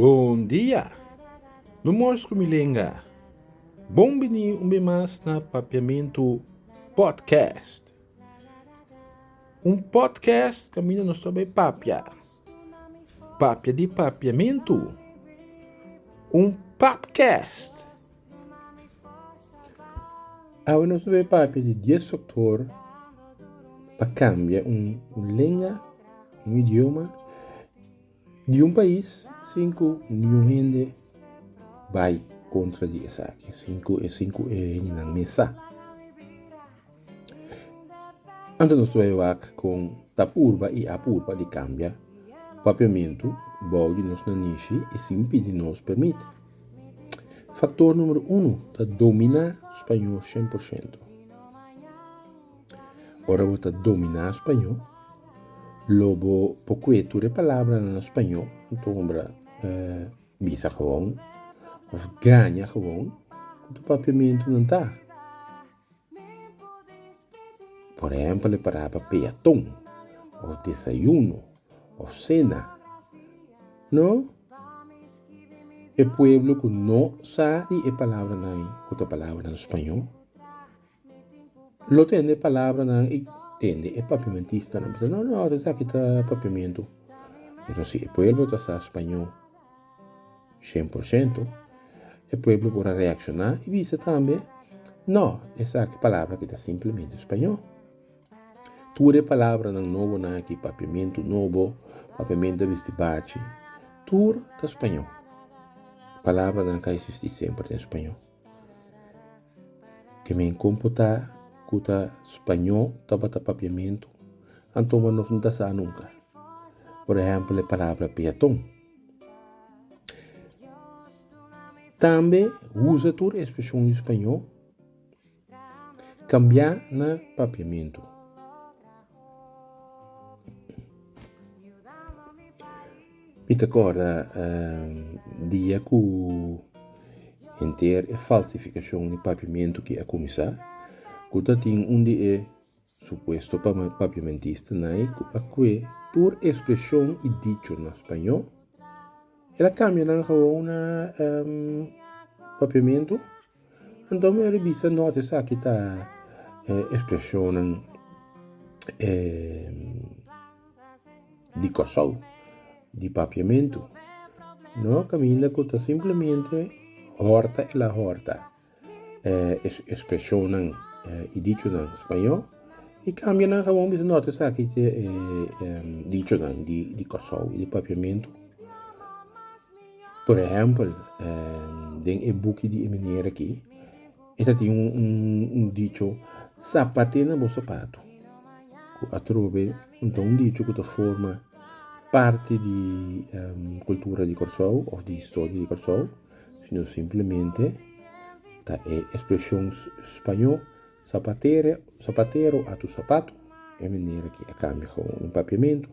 Bon dia! Mi mos ku mi lenga. Bon bini un be mas na Papiamentu Podcast. Un podcast kaminda nos ta bai papia. Papia di Papiamentu, un papcast. Awe nos ta bay papia di dies factor pa cambia un lenga, un idioma di un pais sin cu ningun hende bay contra di esaki, sin cu e hendenan mesa. Anto nos toa e wak kon ta purba i a purba di kambia papiamentu bou di nos nanishi i sin pidi nos permit. Faktor numero unu ta dominá spañó shen por shento. Ora bo ta dominá spañó, lo bo por kue tur e palabranan na spañó, anto hombra bisa gewon of gaña gewon ku ta papiamentunan ta. Por ehèmpel e parabra peaton òf desayuno òf sena. No, e pueblo ku no sa di e palabranan ku ta palabranan spañó lo tende e palabranan i tende e papiamentistanan bisa no no esaki ta papiamentu pero si e pueblo ta sa spañó. Shen por shento e pueblo por a reacciona y bisa tambe no esaki palabra aki ta simplemente spaño tur e palabranan nobonan aki papiamento nobo papiamento a bisti bachi tur ta spaño palabranan ka existi semper den spaño te men con por ta cu ta spaño tabata papiamento anto nos no ta sa nunca por ehempel e palabra peaton. Tambe usa tur e ekspreshon di spañó kambiá na papiamentu. Mi ta korda dia ku henter e falsifikashon di papiamentu a kuminsá, ku ta tin un di e Supuesto pa papiamentista Nay cu a cue tur expresion y dicho na Spañó, el a cambia nan gewoon na papiamento, anto mi a revisa nota esaki ta expresionan di Corsou, di papiamento, no caminda cu ta simplemente horta el a horta. e expresionnan y dichonan spañó y cambia nan gewoon bisa nota esaki ta e dichonan di Kòrsou y di Papiamentu. Por ehempel den e buki di e meneer aki e ta tin un dicho zapate na bo sapato cu atrobe ta un dicho cu ta forma parti di cultura di Kòrsou of di historia di Kòrsou. sino simplemente ta e expresion spaño zapatero, zapatero atu zapato, e manera ki a cambia gawon den papiamento.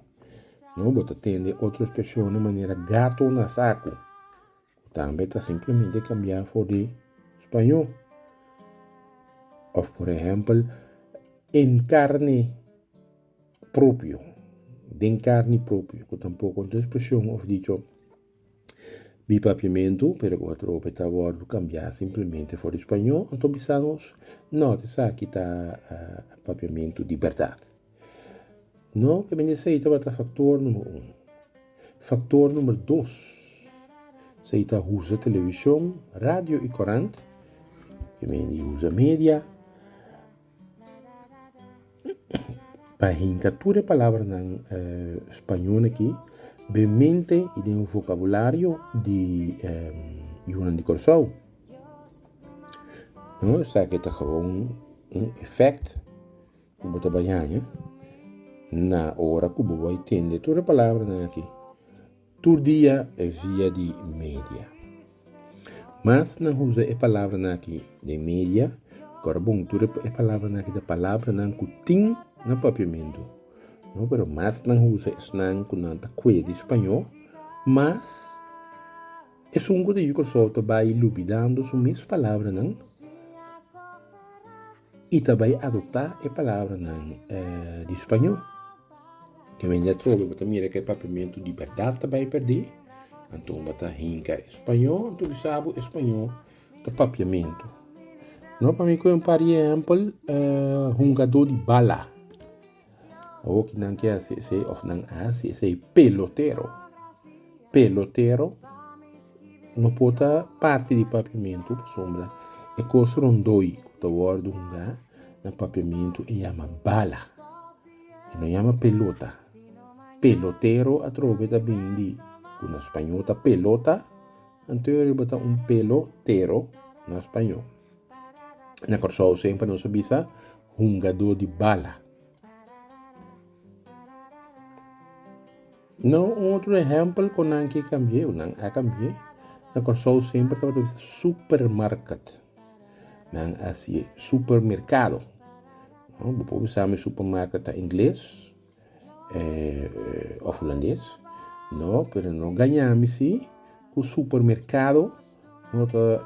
No, bo ta tende otro expresionan manera gato na saco, cu tambe ta simplemente cambia for di spaño. Of por ehempel en carne propio, den carne propio, cu tampoco ta un expresion of dicho. Mi papiamentu, pero cu a trope ta wordo cambia simplemente for di spañol, anto bisa nos, No, esaki ta papiamentu di berdad. No, e mester tabata factor number un. Factor number dos, sa y ta usa television, radio y corant, e mester usa media. Pa hinka tur e palabranan spañol aki den mente i den vocabulario di yunan di Kòrsou no esaki ta kaba un efèkt ku bo ta bai haña na ora ku bo bai tende tur e palabranan aki. Tur dia via di media. Mas nan usa e palabranan aki den media, kor bon, tur e palabranan aki ta palabranan ku tin na papiamentu. No, pero mas nan usa esnan ku nan ta kue di spañó, mas esun ku ta yu Kòrsou ta bai lubidando su mes palabranan. I ta bai adoptá e palabranan di spañó. Ke mende atrobe bo ta mira ke papiamentu di bèrdat ta bai pèrdé, anto bo ta hinka e spañó, anto bisa bo e spañó ta papiamentu. No, pa mi koe un par di ehèmpel, hungadó di bala. Awoki nan ke hasi esei of nan a hasi esei pelotero pelotero no por ta parti di papiamentu pasobra e kos rondoi ku ta wòrdu hunga na papiamentu e yama bala e no yama pelota pelotero atrobe ta bini di ku na spañol ta pelota anto e riba ta un pelotero na spañol. Na Kòrsou semper nos a bisa hungadó di bala. Na un otro ehèmpel ku nan ke kambié, nan a kambié, na Kòrsou semper tabata bisa supermarket. Nan a hasié supermerkado. Bo por bisa mi supermarket ta ingles. of hulandes no pero no gaña mi si ku supermerkado no ta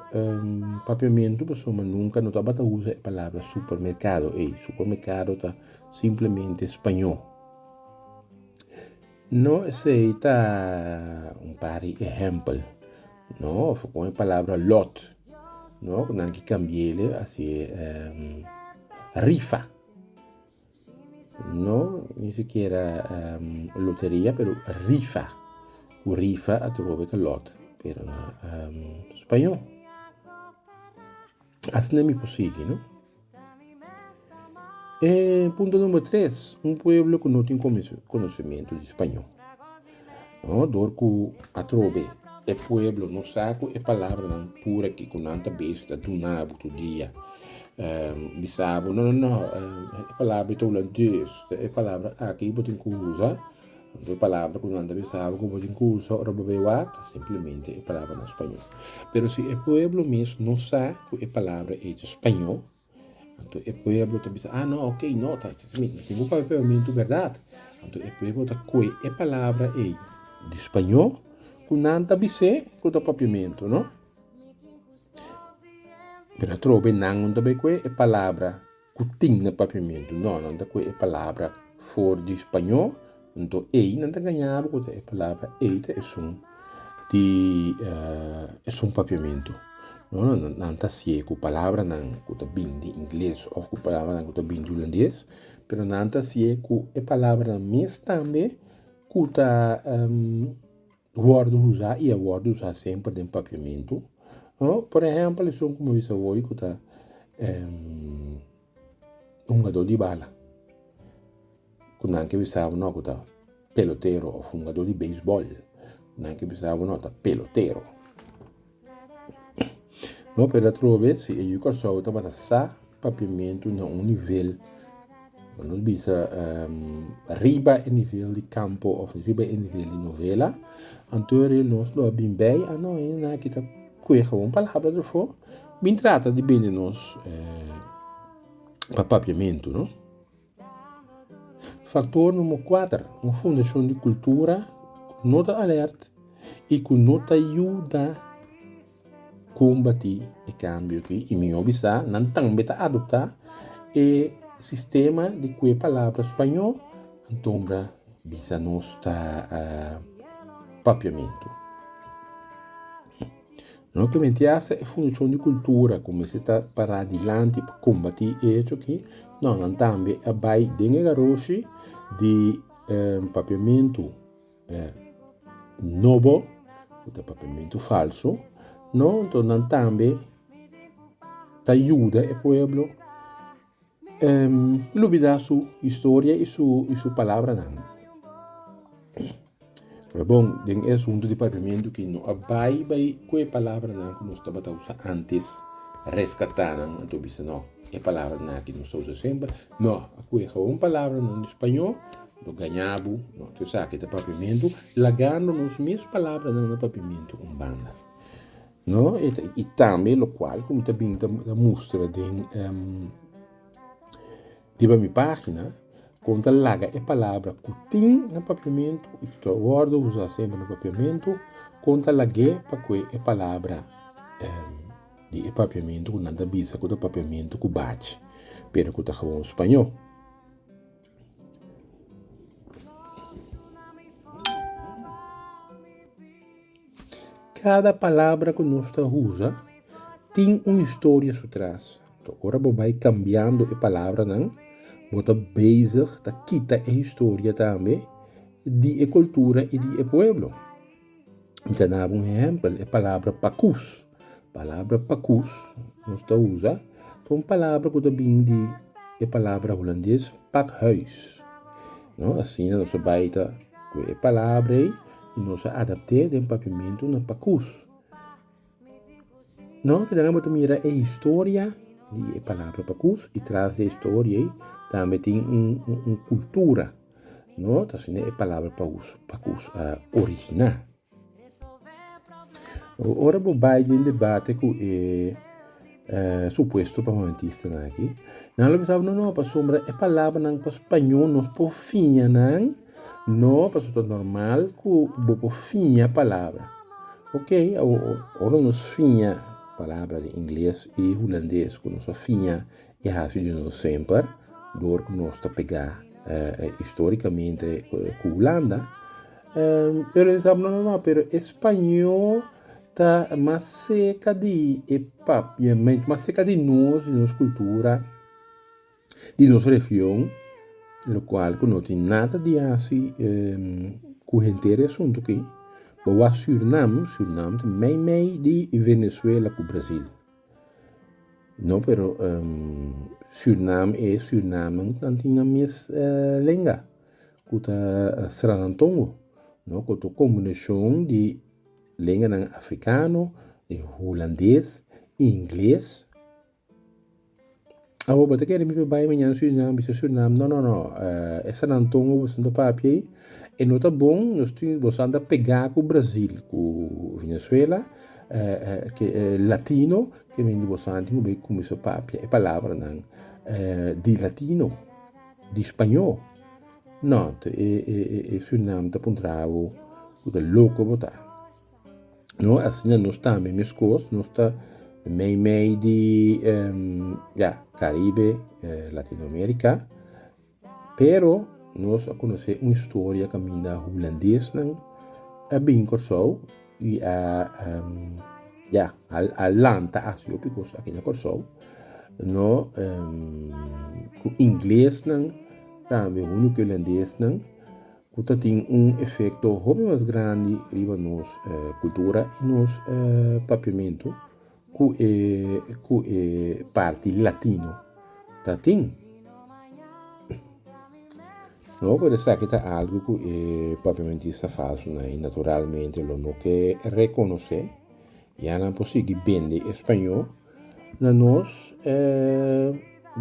papiamentu pasobra nunka no tabata usa e palabra supermerkado ei supermerkado ta simplemente spañó no esei ta un par di ehèmpel no of kon e palabra lòt no nan ke kambiele a se rifa. No ni sikiera loteria pero rifa ku rifa a trobe ta lot pero na spaño asina mi por sigui no e punto number tres un pueblo ku no tin konosementu di spaño. Dor ku atrobe e pueblo no sa ku e palabranan tur aki ku nan ta bes ta duna bo tur dia. Bisa bo, No, no, no, e palabra ei ta ula dus, ta e palabra aki bo tin ku usa. Bo palabra ku nan ta bisa bo ku bo tin ku usa ora bo bai wak, ta simplemente e palabranan spañó. Pero si e pueblo mes no sa ku e palabra ei ta spañó. Anto e pueblo ta bisa, Ah, no, ok, no, ta, si bo papia pebamentu berdad. Anto e pueblo ta koe e palabra ei di spañó ku nan ta bis'é ku ta papiamentu, no? Pero atrobe nan no ta bai koe e palabra ku tin na papiamentu, no, nan ta koe e palabra for di spañó. Anto ei nan ta gañabo ku ta e palabra, ei ta esun di esun papiamentu. No no nan ta hasié ku palabranan ku ta bini di ingles òf ku palabranan ku ta bini di hulandes, pero nan ta hasié ku e palabranan mes tambe ku ta. Wòrdu usá i a wòrdu usá semper den papiamentu. Por ehèmpel, esun ku mi a bisa wòrdu ku ta hungadó di bala, ku nan ke bisa bo ku ta pelotero, òf hungadó di beisbòl, nan ke bisa bo ta pelotero. No pert dat trobe si e yu Kòrsou ta basa sa papiamentu na un nivel nan lo bisa riba e nivel di kampo òf riba e nivel di novela anto e nos lo bin bai a no e na kita kueha un palabra derfo bin trata di bende nos pa papiamentu. Faktor número kuater, un fundashon di kultura ku no ta alert i ku no ta yuda kombatí e kambio akí. I mi hopi sa nan tambe ta adoptá e sistema di kue palabra spañó, anto mira bisa nos ta papiamentu. No ta menti hasta e Fundashon di Kultura ku mester ta pará dilanti pa kombatí e hecho aki, nòknan tambe a bai den e garoshi di papiamentu nobo ku ta papiamentu falsu, no? Nton nan tambe ta yuda e pueblo lubida su historia y su palabranan. Ta bon den e asuntu di papiamentu ki no a bai bai ku e palabranan ku nos tabata usa antes, reskatá nan, a ta bisa no e palabranan aki nos ta usa semper, no, a kohe awor palabranan di spañó, lo gañá bo, no, ta esaki ta papiamentu, lagando nos mes palabranan na papiamentu un banda. No, i tambe locual cu mi ta bini ta mustra den riba mi pagina, con ta laga e palabra cu tin na Papiamento y cu ta wordo usa semper na Papiamento, con ta lag'e pa cu e palabra di e Papiamento cu nan ta bisa cu ta Papiamento cu bachi, pero cu ta gewoon Spañó. Kada palabra ku nos ta usa tin un historia su tras. Nto ora bo bai kambiando e palabranan bo ta bezig ta kita e historia tambe di e kultura i di e pueblo. ta naba un ehempel e palabra pakus palabra pakus nos ta usa ta un palabra ku ta bini di e palabra hulandes pakhuis no asina nos ta bai ta ku e palabra ei y nos a adapte den papiamento na pakus No te debemos mira e historia di e palabra pakus y tras di e historia ei tambe tin un cultura no ta asina e palabra pakus a origina. Ora bo bay den debate cu e. Supuesto pa Moantistanan aki. Nan lo pensaba, no, no, pasobra e palabranan pa spañó nos por fiña nan. No, paso ta normal cu bo por fiña palabra. Ok, ora nos fiña palabra den ingles i hulandes cu nos a fiña e hasi di nos semper dor cu nos ta pegá historicamente cu Hulanda. Pero e sabno no no pero e spaño ta mas seka di e papia mas seka di nos di nos cultura di nos region lo cual cu no tin nada di haci cu henter e asunto aki bo a surinam surinam ta mei mei di venezuela cu brasil. No pero Suriname e Surinamen nan tin nan mes lenga ku ta srannan tongo no ku ta un kombinashon di lenganan afrikano, hulandes, ingles. Awor bo ta kere mi pa bai mañana Surinam bisa Surinam no no no eh e San Antongo boso ta papia ei e no ta bon nos tin boso anda pega ku Brazil ku Venezuela ke latino ke men di boso anti ku kuminsa papia e palabranan di latino di spaño no e Surinam ta puntra bo ku ta loko bo ta. No asina nos tambe meskos nos ta mei mei di ya caribe latino america pero nos a conoce un historia caminda hulandes nan a bin corsou y a ya a lanta haci hopi cos aki na corsou no ingles nan tambe hunde cu hulandes nan ku ta tin un efekto hopi mas grandi riba nos kultura i nos papiamentu ku e ku e parti latino ta tin. No por keda sa ki ta algu ku e papiamentista falsu nan i naturalmente lo no ke rekonosé, ya nan por sigui bende e spañó na nos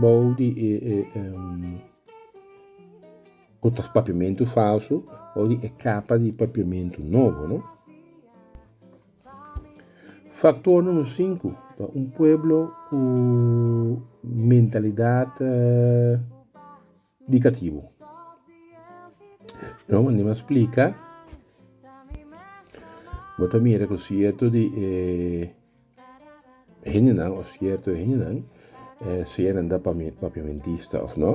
bou di e Ku ta papiamentu falsu o di e kapa di papiamentu nobo. No Faktor numero sinku ta un pueblo ku mentalidat dikatibu. No mandi mas splika bo ta mira ku sierto di e. E hendenan o sierto e hendenan, sea nan ta papiamentista of no,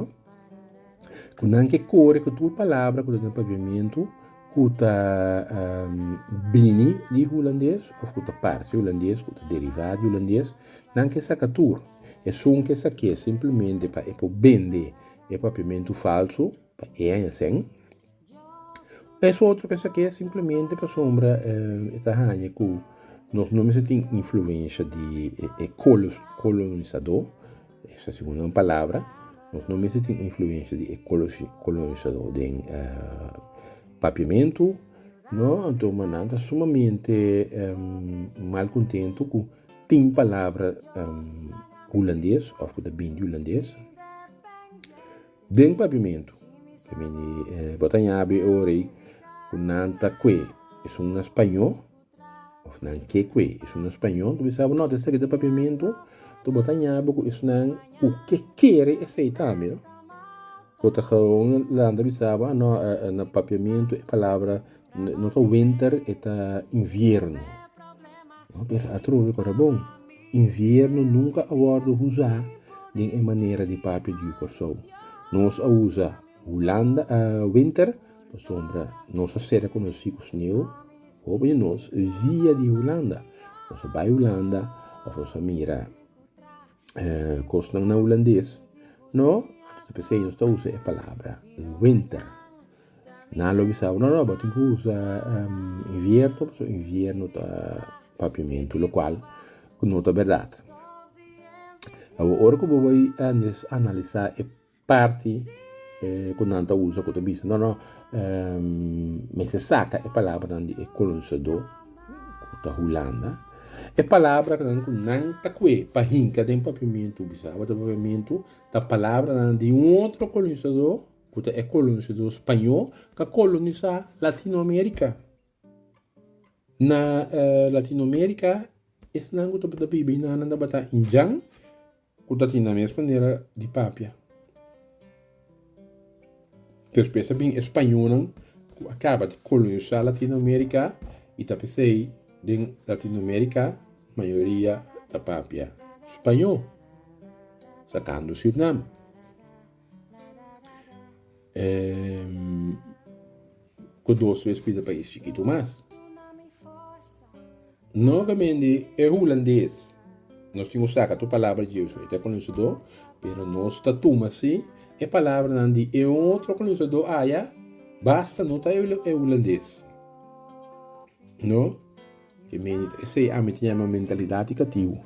ku nan ke kore ku tur palabra ku ta den papiamentu ku ta bini di hulandes of ku ta parse hulandes, ku ta deriva di hulandes, nan ke saka tur. Esun ke sak'é simplemente pa e por bende e papiamentu falso pa e aña sen. Pa esotro pa esaki es simplemente pasobra e ta haña ku nos no mester tin influensha di e kolonisadó, es ta segun nan palabra, nos no mester tin influensha di e kolonisadó den papiamentu, anto ma nan ta sumamente mal kontentu ku tin palabra hulandes òf ku ta bini di hulandes. Den papimentu, bo ta yabi e ora ei cu nan ta cue esun na spañó of nan ke cue esun na spañó, cu bisa bo no ta esaki ta papimentu, enton bo ta yabi cu esnan cu ke kere esey tambe, bo ta hawo un lanta bisa bo, a no, na papiamentu e palabra. No ta winter e ta invierno pero atrobe ku ta bon invierno nunka a wordo usa den e manera di papia di Korsou nos a usa hulanda winter pasobra nos a sera konosi ku sneu hopi di nos via di hulanda nos a bai hulanda of nos a mira cosnan na hulandes no ta pensá nos ta usa e palabra winter nan lo bisa no no bo tin ki usa invierno pasobra invierno ta papiamento lo cual no ta berdad awa ora cu bo bai analiza e parti ku nan ta usa ku ta bisa no no mester saka e palabranan di e kolonisadó ku ta Hulanda e palabranan ku nan ta kue pa hinka den papiamentu bisaba den papiamentu ta palabranan di un otro kolonisadó ku ta e kolonisadó spañó ka kolonisá latino amerika na latino amerika esnan ku tabata biba einan nan tabata indian Ku ta tin na mes manera di papia. Despues a bin e spañonan ku a kaba di kolonisá Latinoamérika i ta p'esei den Latinoamérika mayoria ta papia spañó, sakando Sirnam. ku dos bes pida pa e chikitu mas. Nuevamente e hulandes, nos tin ku saka tur palabra dje so, e ta e kolonisadó, pero nos ta tuma si e palabranan di e otro kolonisadó aya basta, no ta e hulandes. No, e medio di esei ami ta yama mentalidat di katibu.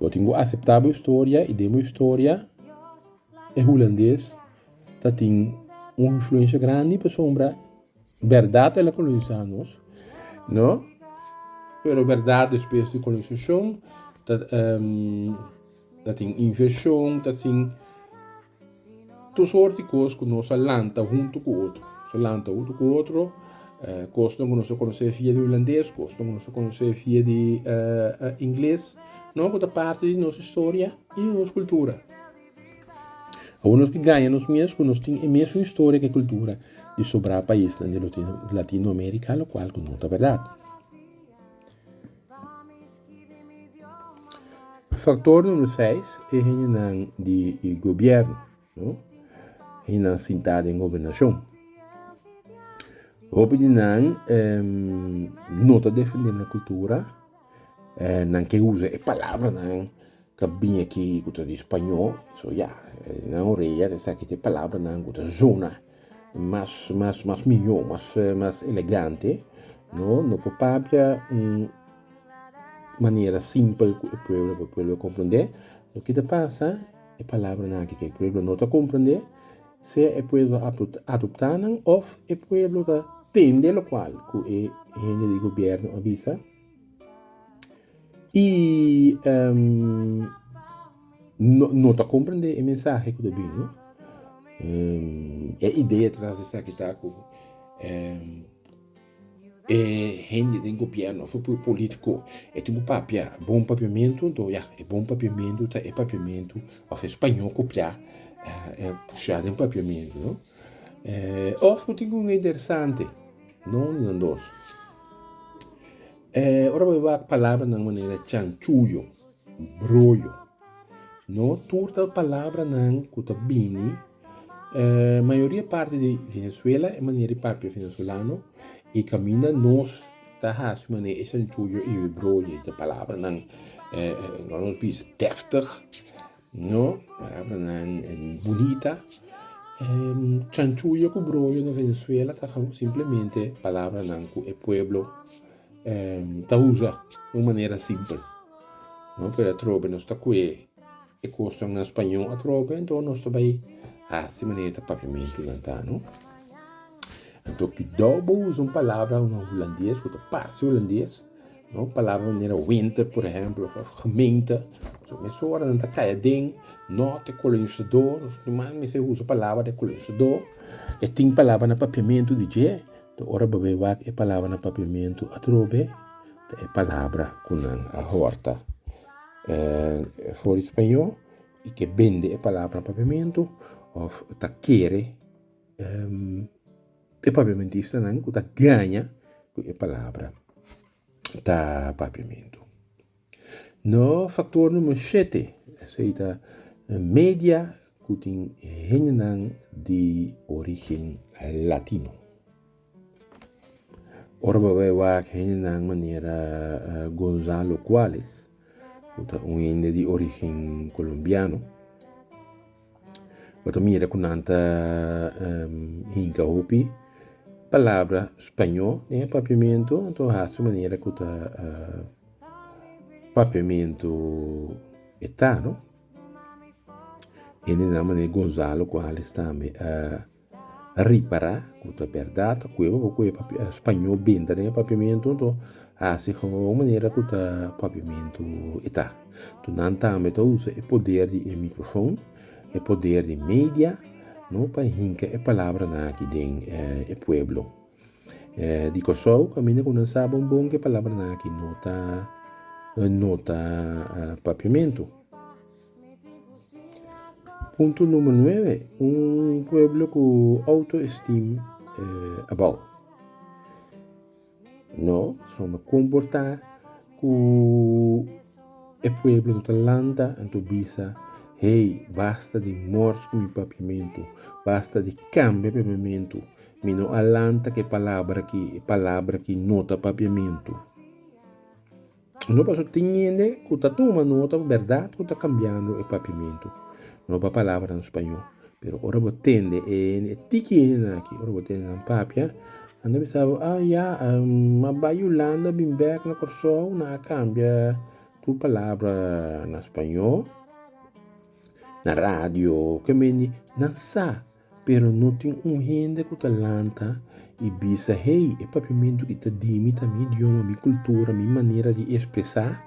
Bo tin ku aseptá bo historia i den bo historia. E hulandes ta tin un influensha grandi pasobra bèrdat el a kolonisá nos, no? Pero bèrdat despues di kolonisashon ta ta tin invenshon, ta tin tur sort di kos ku nos a lanta huntu ku otro, nos a lanta huntu ku otro, kosnan ku nos a konosé via di hulandes, kosnan ku nos a konosé via di ingles, no? Ku ta parti di nos historia i di nos kultura. Awor nos tin gaña nos mes ku nos tin e mesun historia ku e kultura di sobrá paisnan di Latinoamerika, lokual ku no ta bèrdat. Faktor numero seis e hendenan di gobièrnu, hendenan sintá den gobernashon. Hopi di nan no ta defendé nan kultura, nan ke usa e palabranan. ka bini aki ku ta di spañó so ya nan oreya ta esaki te palabranan ku ta zona mas mas mas mihó mas mas elegante no no por papia un manera simpel ku e pueblo por pueblo a komprendé lo ke ta pasa e palabranan aki ke pueblo no ta komprendé sea e pueblo ta adoptá nan òf e pueblo ta tende lokual ku e hende di gobièrnu a bisa. I no ta comprende e mensahe cu ta bini, no. E idea tras esaki ta cu e hende den gobierno of e politico e tin cu papia bon papiamento, nto ya, e bon papiamento ta e papiamento of e spaño copia, pusha den papiamento, no. Eh, òf ku tin un interesante. No uni no dos. Eh, ora bo e wak palabranan manera chanchuyo, broyo. No, tur ta palabranan ku ta bini, eh, mayoria parti di Venezuela, e manera di papia venezolano, i kaminda nos ta hasi un manera e chanchuyo i e broyo, e palabranan, eh, eh, nos bisa deftig. No, palabranan bunita. Chanchulla ku broyo na Venezuela ta simplemente palabranan ku e pueblo ta usa di un manera simpel. No, pero atrobe nos ta kue e kosnan na spañó atrobe, anto nos ta bai hasi manera e papiamentunan ta, no. Anto, kidó bo usa un palabra na hulandes ku ta parse hulandes? Un palabra manera winter por ehemplo of gemeente so mes ora nan ta kaya den norte colonizador nos tin mas mester usa palabra de colonizador e tin palabra na papiamento di dje to ora bo be wak e palabra na papiamento atrobe ta e palabra ku nan a horta for di spaño y ke bende e palabra na papiamento of ta kere. E papiamentistanan ku ta gaña ku e palabra ta papiamentu. No faktor numer shete esei ta media ku tin hendenan di origen latino. Ora bo bai wak hendenan manera Gonzalo Cuales ku ta un hende di origen kolombiano, Bo ta mira ku nan ta hinka hopi palabra spañó den e papiamentu anto hasi manera ku ta papiamentu e ta no. Hende nan manera Gonzalo ku Alex tambe a. Ripará ku ta bèrdat kue bo por kue spañó benta den e papiamentu anto hasi ku un manera ku ta papiamentu e ta. Nto nan tambe ta usa e poder di e mikrofon e poder di media no pa hinka e palabranan aki den e pueblo di Kòrsou kaminda ku nan sa bon bon ku e palabranan aki no ta no ta papiamentu. Punto numero nuebe, un pueblo cu auto esteem abao. No sama comporta cu e pueblo no ta lanta anto bisa hey basta di mors cu mi papiamento basta di cambia papiamento mi no a lanta cu e palabra aki e palabra aki no ta papiamento. No paso tin hende cu ta tuma nota cu berdad cu ta cambiando e papimentu. No ba palabra na Spañol. Pero ora bo tende e hende, e tiki hendenan aki, ora bo tende nan papia, nan ta bisa bo, ah, ya, ma bay Yolanda bin bek na Corsou, nan a cambia tur palabra na Spañol, na radio, ke men di. Nan sa. Pero no tin un hende ku ta lanta i bisa, Hey, e papiamentu ki ta dimi ta mi idioma, mi kultura, mi manera di espresá.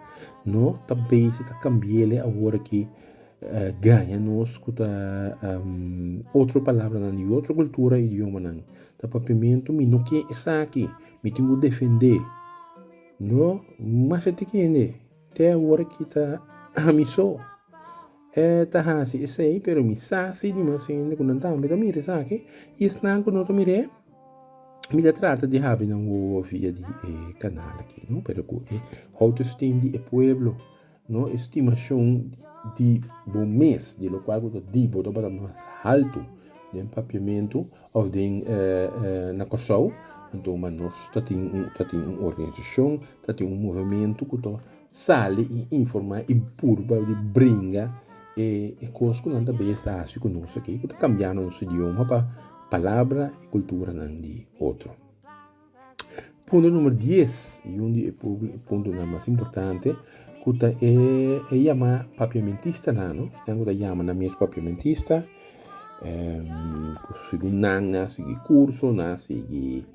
No ta bisa ta kambia el e awor aki gaña nos ku ta otro palabranan di otro kultura i idiomanan. Ta papiamentu mi no ke esaki, mi tin ku defend'é. No, mester tin hende te awor aki ta amisó. E ta hasi esei, pero mi sa si di mas hende ku nan tambe ta mira esaki, i esnan ku no ta mir'é, mi ta trata di habri nan wowo via di e kanal aki, no, pero ku e outoesteem di e pueblo, no, e stimashon di bo mes, di lokual ku ta dibi bo tabata mas haltu den Papiamentu òf den na Kòrsou, anto mas nos ta tin un, ta tin un organisashon, ta tin un movementu ku ta. Sali y informa y purba di bringa e cos cu nan ta bay estasio cu nos aki cu ta cambia nos idioma pa palabra y culturanan di otro. Punto numero dies y un di e puntonan mas importante cu ta e yama papiamentista nan no esnan cu ta yama nan mes papiamentista cu segun nan na sigui curso na sigui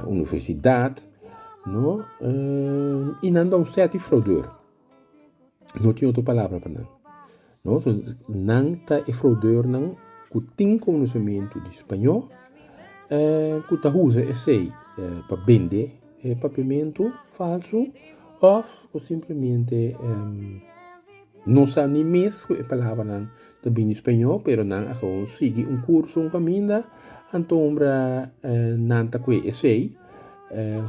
universidad. No, um, y nan don fe a ti fraudeur. No tin otro palabra pa nan. No, so nan ta e fraudeur nan cu tin conocimiento di Spañol, eh, cu ta usa esey eh, pa bende e papiamento falso of cu simplemente, um, no sa ni mes cu e palabranan ta bini Spañó pero nan a gewoon sigui un kurso un kaminda antombra nan ta kue esei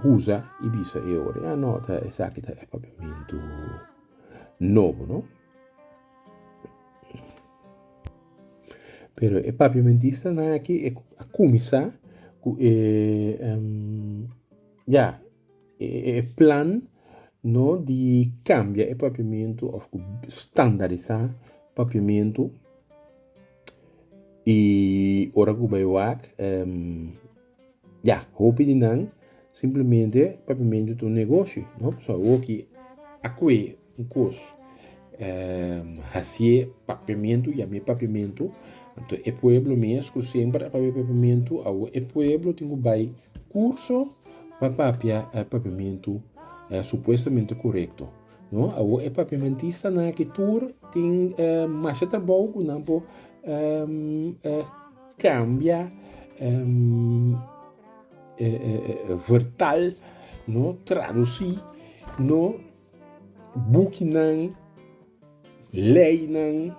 husa i bisa e ora ya no ta esaki ta e papiamentu nobo no. Pero e papiamentistanan aki a kuminsá ku e ya. E plan no di kambia e papiamentu òf ku standarisá papiamentu i ora ku bai wak ya hopi di nan simplemente papiamentu ta un negoshi no pasobra awoki akwe Un kos hasié papiamentu, yam'é papiamentu, anto e pueblo mes ku semper a papia papiamentu, awo e pueblo tin ku bai kurso pa papia e papiamentu supuestamente korekto. No, awo e papiamentistanan aki tur tin masha trabou ku nan por kambia vertal, no, tradusí, no. bukinan, leinan,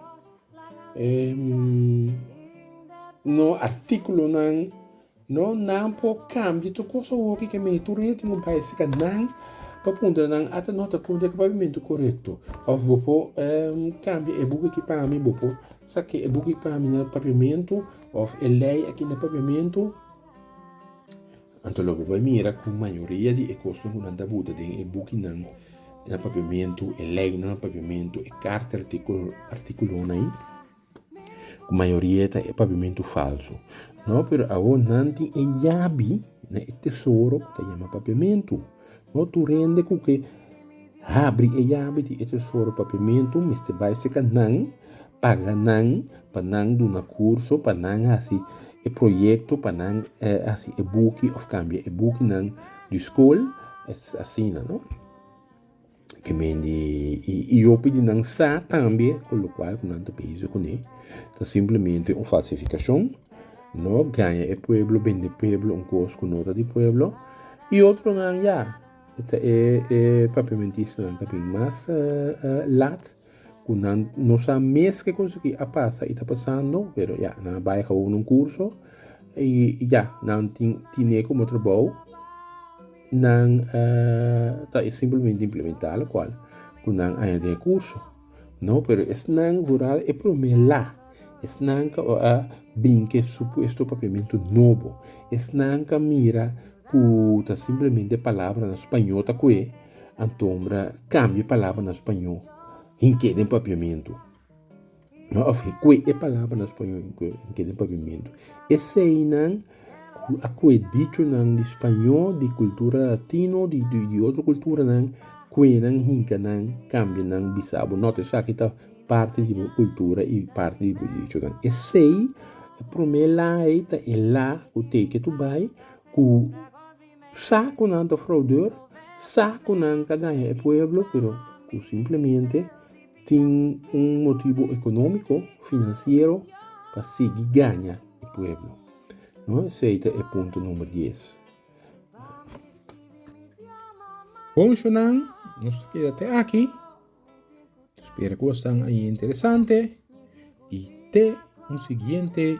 em, no artíkulonan, no, nan por kambia tur kos awor ke men tur aña tin ku bai sika nan pa puntra nan ata no ta konta e pavimentu korekto òf bo por em kambia e buki aki pa mi bo por saki e buki aki pa mi na paviamentu òf e lei aki na paviamentu. Anto lo bo bai mira ku mayoria di e kosnan ku nan ta buta den e bukinan, na papiamentu, e leinan na papiamentu, e karta artikulonan ei, ku mayoria ta e papiamentu falsu. No, pero awor nan tin e yabi na e tesoro ku ta yama papiamentu. No tur hende cu ke habri e yabi di e tesoro pa pimentu mester bay seca nan, paga nan pa nan duna curso, pa nan haci e proyecto, pa nan haci e buki of cambia e bukinan di school, asina no. Ke men di i hopi di nan sa tambe ku lokual ku nan ta bezi kuné ta simplemente un falsifikashon, no gaña e pueblo bende pueblo un kos ku no ta di pueblo i otronan ya e papiamentistanan ta bin mas lat. cu nan no sa mes ke cosa ki a pasa y ta pasando, pero ya, nan a bay a cabo un curso y ya, nan tin tine como trabao, nan uh, ta simplemente implementa lo cual cu nan aña den e curso. No, pero esnan vooral e prome la, esnan ka a bin ke supuesto papiamento nobo, esnan ka mira cu ta simplemente palabra na spañol ta koe, Anto mira cambia e palabra na spañó hinke den papiamentu. Of hikue e palabra na spañó hinke den papiamentu. Eseinan cu a cue dichonan di spañó, di cultura latino, di, di, di otro culturanan, cuenan hincanan, cambianan, bisabo. Not esaki ta parti di bo cultura y parti di bo dichonan. Esei e prome la ei ta e la cu teke tu bay cu. Sa ku nan ta fraudor, sa ku nan ta gaña e pueblo, pero ku simplemente tin un motibu ekonómiko, finansiero pa sigui gaña e pueblo. No esei ta e punto number dies. Boushonan, nos ta keda te aki. Spera ku bo san ahi interesante i te un siguiente.